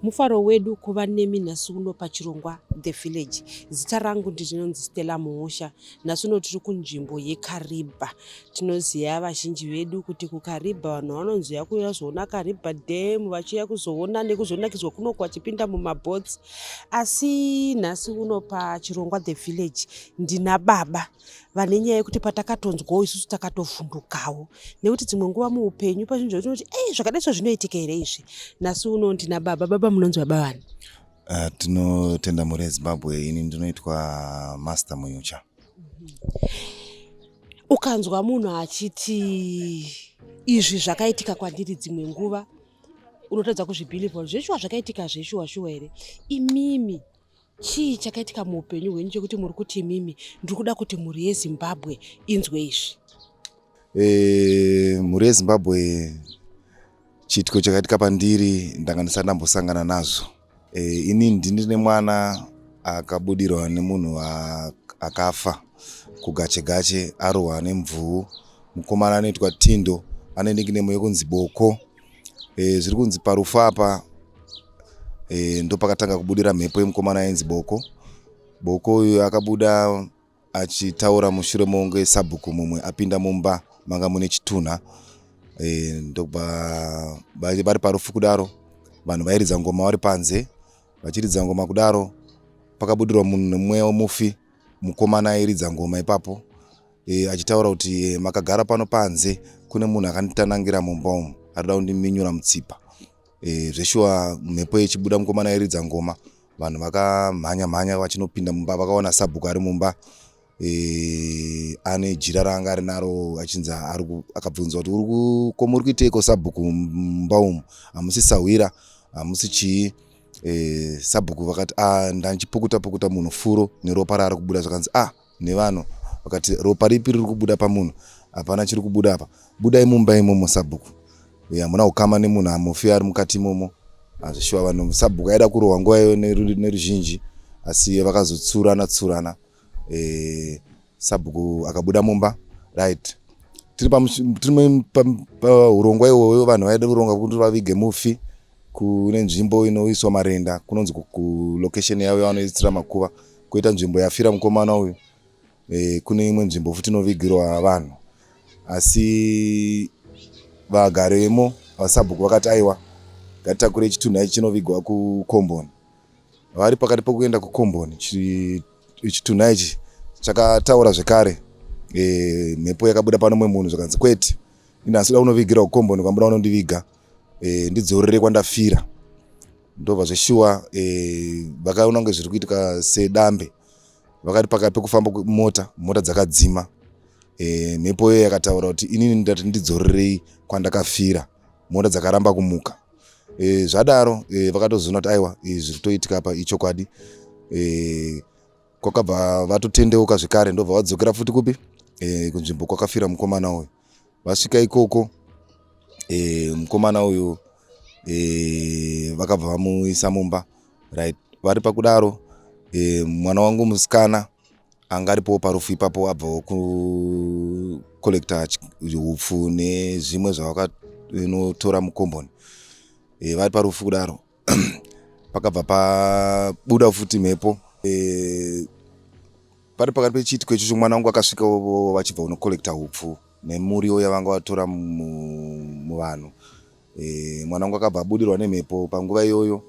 mufaro wedu kuva nemi nhasi uno pachirongwa the village zita rangu ndinonzi stella muhusha nhasi uno tiri kunzvimbo yekaribha Tinoziva vazhinji vedu kuti kuKariba vanhu vanonzouya kuuya kuzoona Kariba Dam vachiuya kuzoona nekuzonakidzwa kunoko vachipinda mumabhotsi. Asi nhasi uno pachirongwa The Village ndina baba vane nyaya yekuti patakatonzwawo isusu takatovhundukawo nekuti dzimwe nguva muupenyu pazvinhu zvatinoti ei zvakadai so zvinoitika here izvi. Nhasi uno ndina baba. Baba munonzi baba vani? Uh, tinotenda mhuri yezimbabwe ini ndinoitwa master muyucha ukanzwa munhu achiti izvi zvakaitika kwandiri dzimwe nguva unotadza kuzvibhilivha kuti zveshuwa zvakaitika zveshuwa shuwa here imimi chii chakaitika muupenyu hwenyu chekuti muri kuti imimi ndiri kuda kuti mhuri yezimbabwe inzwe izvi eh, mhuri yezimbabwe chiitiko chakaitika pandiri ndanga ndisati ndambosangana nazvo Eh, ini ndini nemwana akabudirwa nemunhu akafa kugache gache arohwa nemvuu mukomana anoitwa tindo ane nikinemo yekunzi boko e, zviri kunzi parufu apa e, ndopakatanga kubudira mhepo yemukomana ainzi boko boko uyu akabuda Achitaura mushure mokunge sabhuku mumwe apinda mumba manga mune chitunha e, ndokubva vari parufu kudaro vanhu vairidza ngoma vari panze vachiridza ngoma kudaro pakabudirwa munhu nemwe wemufi mukomana airidza ngoma ipapo e, achitaura kuti e, makagara pano panze kune munhu akanditanangira mumba umu arida kundiminyura mutsipa e, zveshuwa mhepo yechibuda mukomana airidza ngoma Vanhu vakamhanya mhanya vachinopinda mumba vakaona sabhuku ari mumba e, ane jira raanga ari naro achinzi akabvunzwa kuti uri koma uri kuiteiko sabhuku mumba umu hamusi sahwira hamusi chii e, sabhuku vakati ah, ndandichipukuta pukuta munhu furo neropa raari kubuda zvakanzi ah nevanhu vakati ropa ripi riri kubuda pamunhu hapana chiri kubuda apa budai mumba imomo sabhuku hamuna ukama nemunhu hamufi ari mukati imomo hazvishuwa vanhu sabhuku aida kurohwa nguva iyo neruzhinji asi vakazotsurana tsurana e, sabhuku akabuda mumba right tiri paurongwa iwoyo vanhu vaida kuronga kuti vavige mufi kune nzvimbo inoiswa marenda kunonzi kulocation yavo yavanoisira makuva koita nzvimbo yafira mukomana uyu e, kune imwe nzvimbo futi inovigirwa vanhu asi vagari vemo vasabhuku vakati aiwa ngatitakure chitunhu ichi chinovigwa kukomboni vari pakati pokuenda kukomboni chitunhu ichi chakataura zvekare e, mhepo yakabuda panomwe munhu zvakanzi kwete ini asi da unovigirwa kukomboni kwambuda unondiviga e, ndidzorere kwandafira ndobva zveshuwa e, eh, vakaona kunge zviri kuitika sedambe vakati pakati pekufamba mota mota dzakadzima e, mhepo iyoyo yakataura kuti inini ndati ndidzorerei kwandakafira mota dzakaramba kumuka e, zvadaro e, vakatozoona kuti aiwa e, zviri kutoitika apa ichokwadi e, kwakabva vatotendeuka zvekare ndobva vadzokera futi kupi e, kunzvimbo kwakafira mukomana uyu vasvika ikoko e, mukomana uyu e, vakabva vamuisa mumba right vari pakudaro e, mwana wangu musikana anga aripowo parufu ipapo abvawo kucollecta upfu nezvimwe zvavakanotora mukomboni e, vari parufu kudaro pakabva pabuda futi mhepo e, pari pakati pechiitiko ichocho mwana wangu akasvika vachibva unokollekta hupfu nemuriwo yavanga vatora muvanhu e, mwana wangu akabva abudirwa nemhepo panguva iyoyo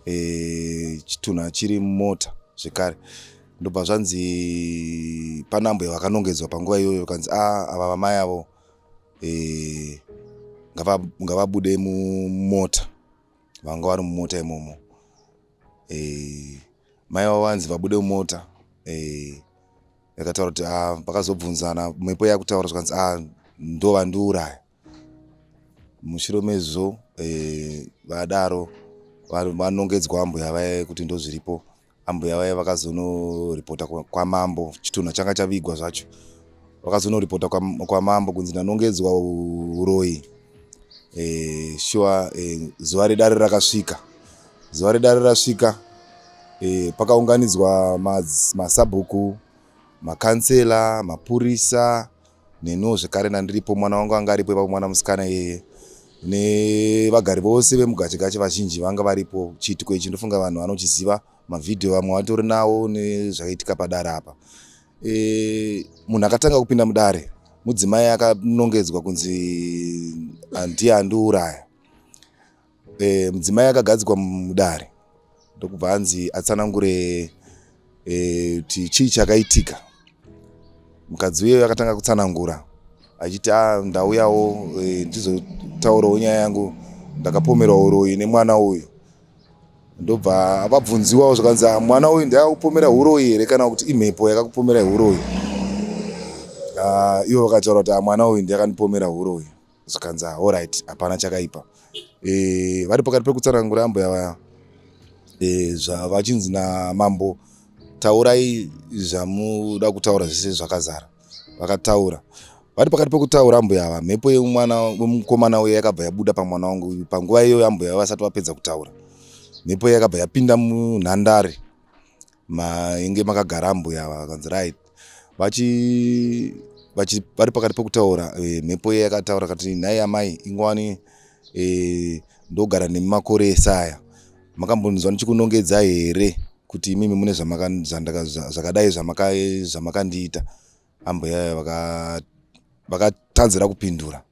e, chitunha chiri mumota zvekare ndobva zvanzi panambo yavakanongedzwa panguva iyoyo kanzi a ah, ava vamai avo e, ngavabude mumota vanga vari mumota imomo eh, mai vavo vanzi vabude mumota eh, yakataura kuti ah, vakazobvunzana mhepo yakutaura zvikanzi ah, ndo vandiuraya mushure mezvo eh, vadaro vanongedzwa ambuya vaye kuti ndozviripo Ambuya vaye vakazonoripota kwamambo, chitunha changa chavigwa zvacho. Vakazonoripota kwamambo kunzi ndanongedzwa uroyi. E, shuwa e, zuva redare rakasvika. Zuva redare rasvika e, pakaunganidzwa masabhuku, makansela, mapurisa, Neniwo zvekare ndandiripo mwana wangu anga aripo ipapo mwana musikana iyeye nevagari vose vemugachegache vazhinji vanga varipo chiitiko ichi ndofunga vanhu vanochiziva mavhidhiyo vamwe vatori nawo nezvaitika padare apa e, munhu akatanga kupinda mudare mudzimai akanongedzwa kunzi handiye andiuraya E, mudzimai akagadzikwa mudare ndokubva anzi atsanangure e, kuti chii chakaitika. Mukadzi uye akatanga kutsanangura achiti a ah, ndauyawo e, ndizotaurawo nyaya yangu ndakapomerwa uroyi nemwana uyu ndobva vabvunziwawo zvakanzi ah, mwana uyu ndakakupomera uroyi here kana kuti imhepo yakakupomera uroyi ah, ivo vakataura kuti ah, mwana uyu ndiyakandipomera uroyi zvikanzi ah, alright hapana chakaipa e, vari pakati pekutsanangura ambuya vaya e, zvavachinzi namambo taurai zvamuda kutaura zvese zvakazara vakataura vari pakati pekutaura ambuya ava mhepo yemwana wemukomana uye yakabva yabuda pamwana wangu panguva iyoyo ambuya ava vasati vapedza kutaura mhepo yakabva yapinda munhandare mainge makagara ambuya ava vakanzi right vachi vachi vari pakati pekutaura e, mhepo iya yakataura kati nhai amai ingwani e, ndogara nemi makore ese aya makambonzwa ndichikunongedza here kuti imimi mune zvakadai zvamakandiita ambuya vakat vakat tanzira kupindura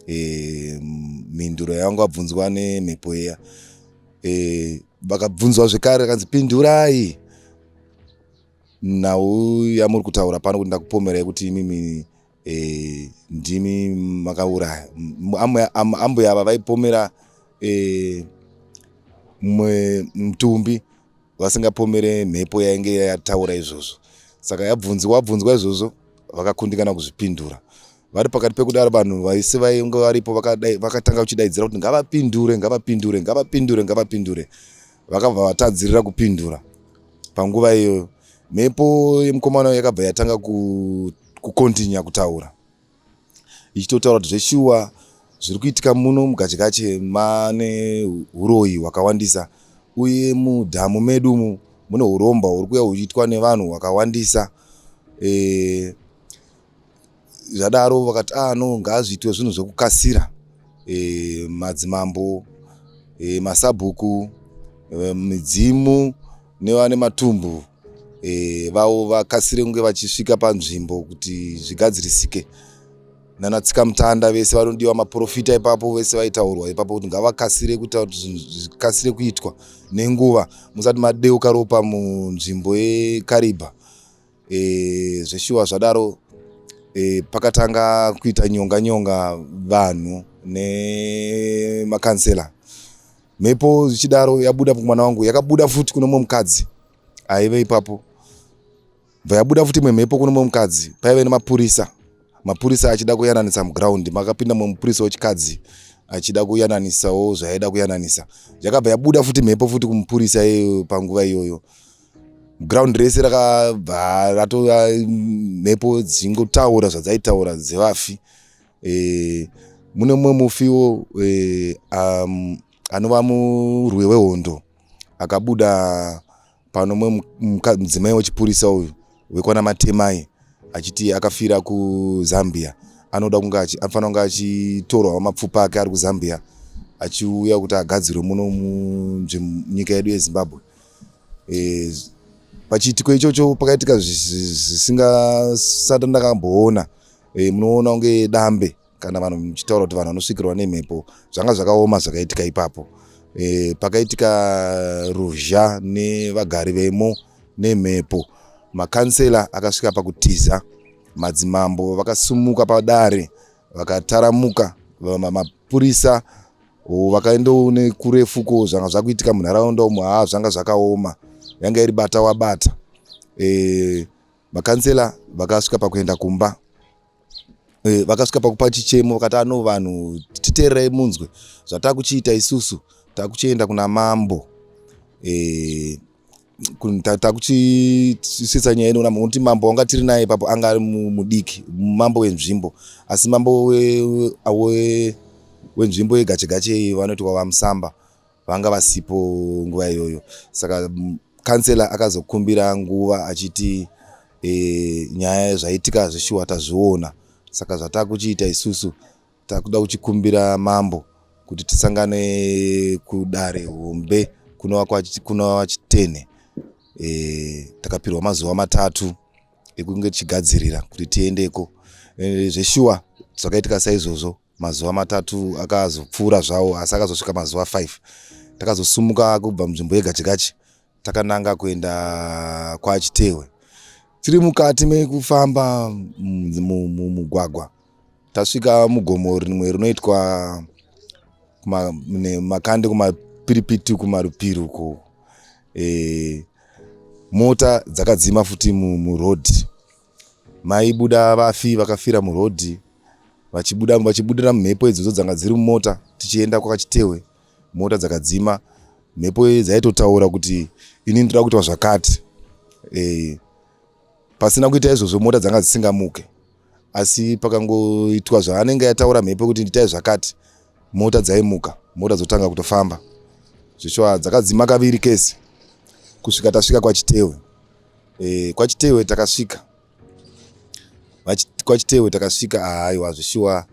e, mhinduro yangu abvunzwa nemhepo iya e, vakabvunzwa zvekare akanzi pindurai nhau yamuri kutaura pano kuti ndakupomerai kuti imimi e, ndimi makauraya ambuya ava vaipomera e, mtumbi vasingapomere mhepo yainge yataura izvozvo saka yabvunziwa abvunzwa izvozvo vakakundikana kuzvipindura vari pakati pekudaro vanhu vaisi vainge varipo vakatanga kuchidaidzira kuti ngavapindure ngavapindure ngavapindure ngavapindure vakabva vatadzirira kupindura panguva iyoyo mhepo yemukomana yakabva yatanga kukontinya kutaura ichitotaura kuti zveshuwa zviri kuitika muno muGachegache mane huroyi hwakawandisa uye mudhamu medu umu mune uromba huri kuya huchiitwa nevanhu hwakawandisa e, zvadaro vakati ah no ngazviitwe zvinhu zvekukasira e, madzimambo e, masabhuku e, midzimu nevane matumbu e, vavo vakasire kunge vachisvika panzvimbo kuti zvigadzirisike nana tsikamutanda vese vanodiwa maprofita ipapo vese vaitaurwa ipapo kuti ngavakasire kuita kuti zvinhu zvikasire kuitwa nenguva musati madeuka ropa munzvimbo yekaribha e, zveshuwa zvadaro e, pakatanga kuita nyonga nyonga vanhu nemakansela mhepo zvichidaro yabuda kumwana wangu yakabuda futi kune mumwe mukadzi aive ipapo bva yabuda futi imwe mhepo kune mumwe mukadzi paive nemapurisa mapurisa achida kuyananisa muground makapinda mumwe mupurisa wechikadzi achida kuyananisawo zvaida kuyananisa yakabva yabuda futi mhepo futi kumupurisa iyoyo panguva iyoyo ground rese rakabva ratova mhepo dzingotaura zvadzaitaura dzevafi E, mune mumwe mufiwo e, um, anova murwi wehondo akabuda pano mwe mudzimai wechipurisa uyu wekwana matemai achiti akafira kuzambia anoda kunge anofanira kunge achitorwawo mapfupa ake ari kuzambia achiuya kuti agadzirwe muno munyika yedu yezimbabwe e, pachiitiko ichocho pakaitika zvisingasati ndakamboona e, munoona kunge dambe kana vanhu muchitaura kuti vanhu vanosvikirwa nemhepo zvanga zvakaoma zvakaitika ipapo e, pakaitika ruzha nevagari vemo nemhepo makansela akasvika pakutiza madzimambo vakasumuka padare vakataramuka mapurisa vakaendawo nekurefuko zvanga zvakuitika munharaunda umo haa zvanga zvakaoma yanga iri bata wabata e, Makansela vakasvika pakuenda kumba eh, vakasvika pakupa chichemo vakati ano vanhu titeererai munzwe zvatakuchiita isusu takuchienda kuna mambo eh, takuchisisa nyaya inoona kuti mambo wanga tiri naye ipapo anga ari mudiki mambo wenzvimbo asi mambo wenzvimbo yegachegache iyi vanoti wavamusamba vanga vasipo nguva iyoyo saka kansela akazokumbira nguva achiti e, nyaya zvaitika zveshuwa tazviona saka zvatakuchiita isusu takuda kuchikumbira mambo kuti tisangane kudare hombe kunova chitene e, takapirwa mazuva matatu ekunge tichigadzirira kuti tiendeko e, zveshuwa zvakaitika saizvozvo Mazuva matatu akazopfuura zvawo asi akazosvika mazuva 5 takazosumuka kubva munzvimbo yeGachigachi takananga kuenda kwaChitehwe. Tiri mukati mekufamba mumugwagwa tasvika mugomo rimwe rinoitwa makande kumapiripiti kumarupiri uko e, mota dzakadzima futi muroad Maibuda vafi vakafira muroad vachibuda vachibudira mhepo idzodzo dzanga dziri mumota tichienda kwakachitehwe mota dzakadzima mhepo iyi dzaitotaura kuti ini ndoda kuitwa zvakati e, pasina kuita izvozvo mota dzanga dzisingamuke asi pakangoitwa zvaanenge yataura mhepo kuti nditai zvakati mota dzaimuka mota dzotanga kutofamba zvishwa dzakadzima kaviri kese kusvika tasvika kwachitehwe Eh, kwachitewe takasvika kwachitewe takasvika ahaiwa zvishuwa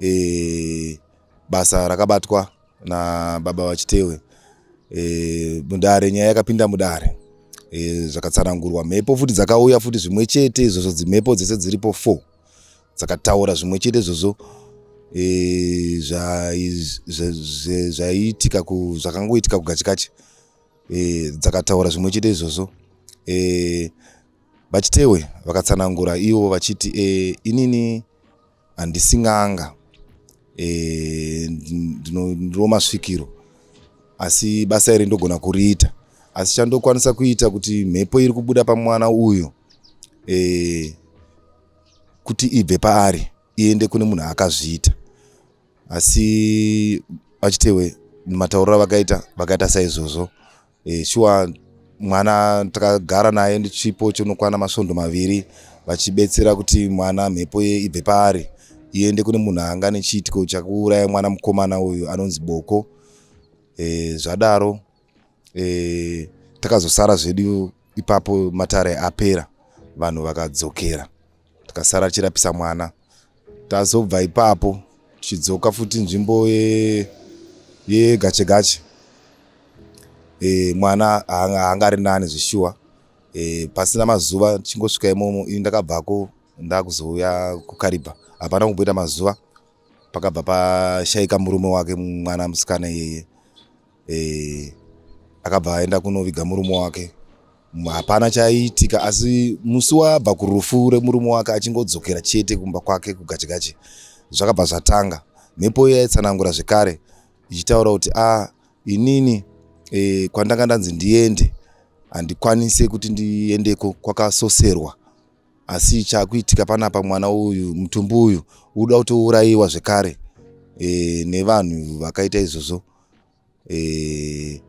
eh, basa rakabatwa nababa vachitewe eh, mudare nyaya yakapinda mudare eh, zvakatsanangurwa mhepo futi dzakauya futi zvimwe chete izvozvo dzimhepo dzese dziripo four dzakataura zvimwe chete izvozvo eh, zvaiitika zvakangoitika kugachikachi e, dzakataura zvimwe chete izvozvo e, vachitewe vakatsanangura ivo vachiti e, inini handisi n'anga e, ndinodiwo masvikiro asi basa iri ndogona kuriita asi chandokwanisa kuita kuti mhepo iri kubuda pamwana uyu e, kuti ibve paari iende kune munhu akazviita asi vachitewe matauriro avakaita vakaita saizvozvo e, shuwa mwana takagara naye chipo chinokwana masvondo maviri vachibetsera kuti mwana mhepo ye ibve paari iende kune munhu anga nechiitiko chakuuraya mwana mukomana uyu anonzi boko e, zvadaro e, takazosara zvedu ipapo matare apera vanhu vakadzokera tikasara tichirapisa mwana tazobva ipapo tichidzoka futi nzvimbo yegache ye gache e, mwana haanga ari nani zvishuwa e, pasina mazuva tichingosvika imomo ini ndakabvako ndakuzouya kukaribha hapana kumboita mazuva pakabva pashaika murume wake mwana musikana iyeye eh, akabva aenda kunoviga murume wake hapana chaiitika asi musi wabva kurufu remurume wake achingodzokera chete kumba kwake kugachigachi zvakabva zvatanga mhepo iyo yaitsanangura zvekare ichitaura kuti a ah, inini e, kwandanga ndanzi ndiende handikwanise kuti ndiendeko kwakasoserwa asi chakuitika panapa mwana uyu mutumbi uyu uda kutourayiwa zvekare e, nevanhu vakaita izvozvo e,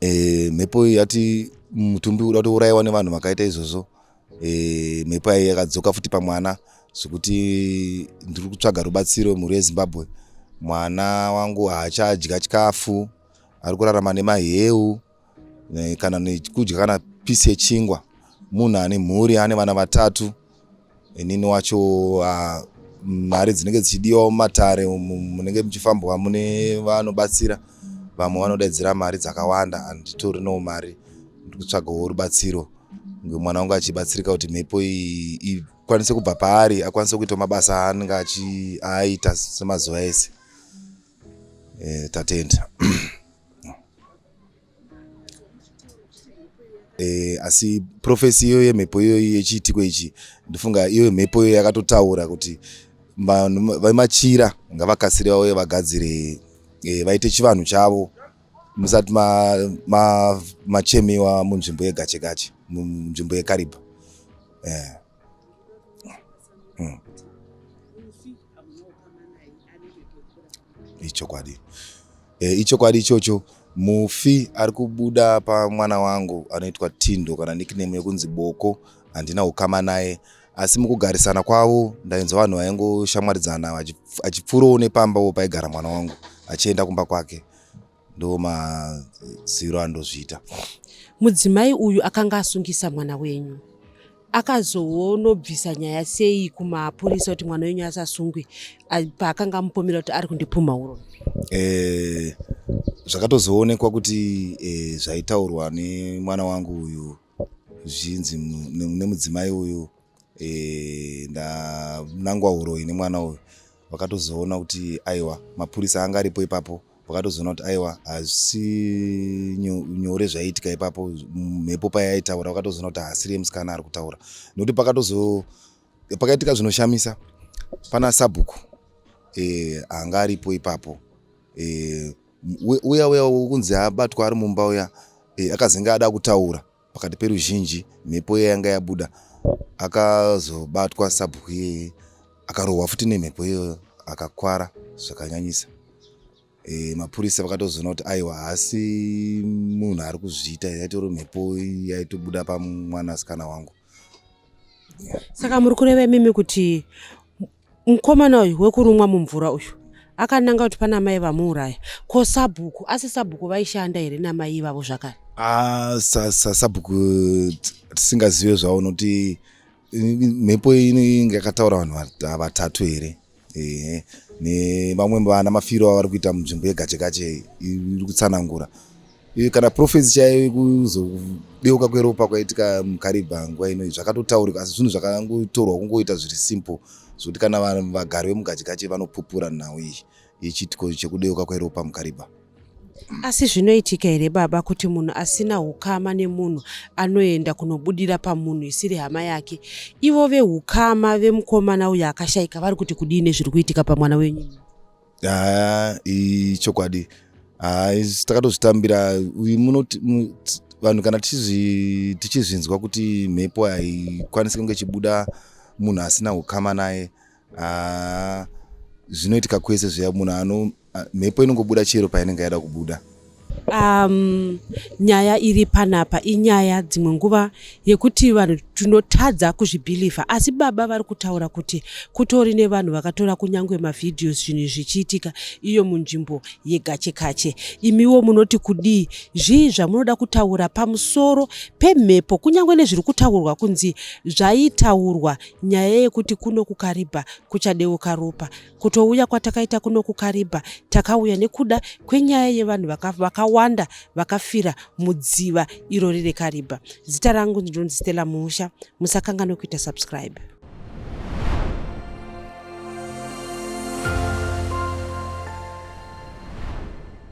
e, mhepo yati mutumbi uda kutourayiwa nevanhu vakaita izvozvo e, mhepo yayi yakadzoka futi pamwana zvekuti ndiri kutsvaga rubatsiro mhuri yezimbabwe mwana wangu haachadya chikafu ari kurarama nemaheu kana nekudya kana pisi yechingwa munhu ane mhuri ane vana vatatu inini wacho ah, mari dzinenge dzichidiwa mumatare munenge muchifambwa mune vanobatsira vamwe vanodaidzira mari dzakawanda handitori no mari ndikutsvagawo rubatsiro mwana wangu achibatsirika kuti mhepo ikwanise kubva paari akwanise kuita mabasa aanenge aaita semazuva ese eh, tatenda Eh, asi profesi iyo yemhepo iyoyi yechiitiko ichi ndofunga iyo mhepo iyo yakatotaura kuti vanhu vemachira ngavakasire vauye vagadzire eh, vaite chivanhu chavo musati machemiwa ma, ma munzvimbo yegachegache munzvimbo yekaribha yeah. hmm. ichokwadi e, ichokwadi ichocho mufi ari kubuda pamwana wangu anoitwa tindo kana nickname yekunzi boko handina ukama naye asi mukugarisana kwavo ndainzwa vanhu vaingoshamwaridzana achipfuurawo nepamba wo paigara mwana wangu achienda kumba kwake ndo maziro andozviita mudzimai uyu akanga asungisa mwana wenyu akazoonobvisa nyaya sei kumapurisa kuti mwana wenyu asasungwe paakanga amupomera kuti ari kundipumha uro eh, zvakatozoonekwa kuti eh, zvaitaurwa nemwana wangu uyu zvinzi nemudzimai uyu Eh, ndanangwa uroyi nemwana uyu vakatozoona kuti aiwa mapurisa anga aripo ipapo vakatozoona kuti aiwa hazvisi nyore zvaiitika ipapo mhepo payaitaura vakatozoona kuti haasiri yemusikana ari kutaura nekuti pakatozo pakaitika zvinoshamisa pana sabhuku eh, anga aripo ipapo eh, uya uya kunzi abatwa ari mumba uya eh, akazenge ada kutaura Pakati peruzhinji mhepo iya yanga yabuda akazobatwa sabhuku iyeye akarohwa futi nemhepo iyoyo akakwara zvakanyanyisa. E, mapurisa vakatozoona kuti aiwa haasi munhu ari kuzviita yaitori mhepo yaitobuda pamwanasikana wangu. Saka muri kureva imimi kuti Mukomana uyu wekurumwa mumvura uyu akananga kuti pana mai vamuuraya ko sabhuku asi sabhuku vaishanda here namai ivavo zvakare ah, sabhuku tisingazive zvavo nokuti mhepo inenge yakataura vanhu vatatu here ehe nevamwe vana mafiro avari kuita munzvimbo yegachegache iri kutsanangura kana profesi chaiyo yekuzodeuka kweropa kwaitika mukaribha nguva ino zvakatotaurika asi zvinhu zvakangotorwa kungoita zviri simple zvekuti kana vanhu vagari vemugachikache vanopupura nhau iyi yechiitiko chekudeuka kweropa mukaribha asi zvinoitika here baba kuti munhu asina ukama nemunhu anoenda kunobudira pamunhu isiri hama yake ivo veukama vemukomana uyo akashaika vari kuti kudii nezviri kuitika pamwana wenyu haa ichokwadi haa takatozvitambira munoti vanhu kana tichizvinzwa kuti mhepo haikwanisi kunge ichibuda munhu asina ukama naye haa zvinoitika kwese zviya munhu ano mhepo inongobuda chero painenge yaida kubuda Um, nyaya iri panapa inyaya dzimwe nguva yekuti vanhu tinotadza kuzvibhilivha asi baba vari kutaura kuti kutori nevanhu vakatora kunyange mavhidhios zvinhu zvichiitika iyo munzvimbo yegachekache imiwo munoti kudii zvii zvamunoda kutaura pamusoro pemhepo kunyange nezviri kutaurwa kunzi zvaitaurwa nyaya yekuti kuno kukaribha kuchadeuka ropa Kutouya kwatakaita kuno kuKariba takauya nekuda kwenyaya yevanhu vakawanda vakafira mudziva iro riri Kariba. Zita rangu ndinonzi Stella Muusha. Musakanganwe kuita subscribe.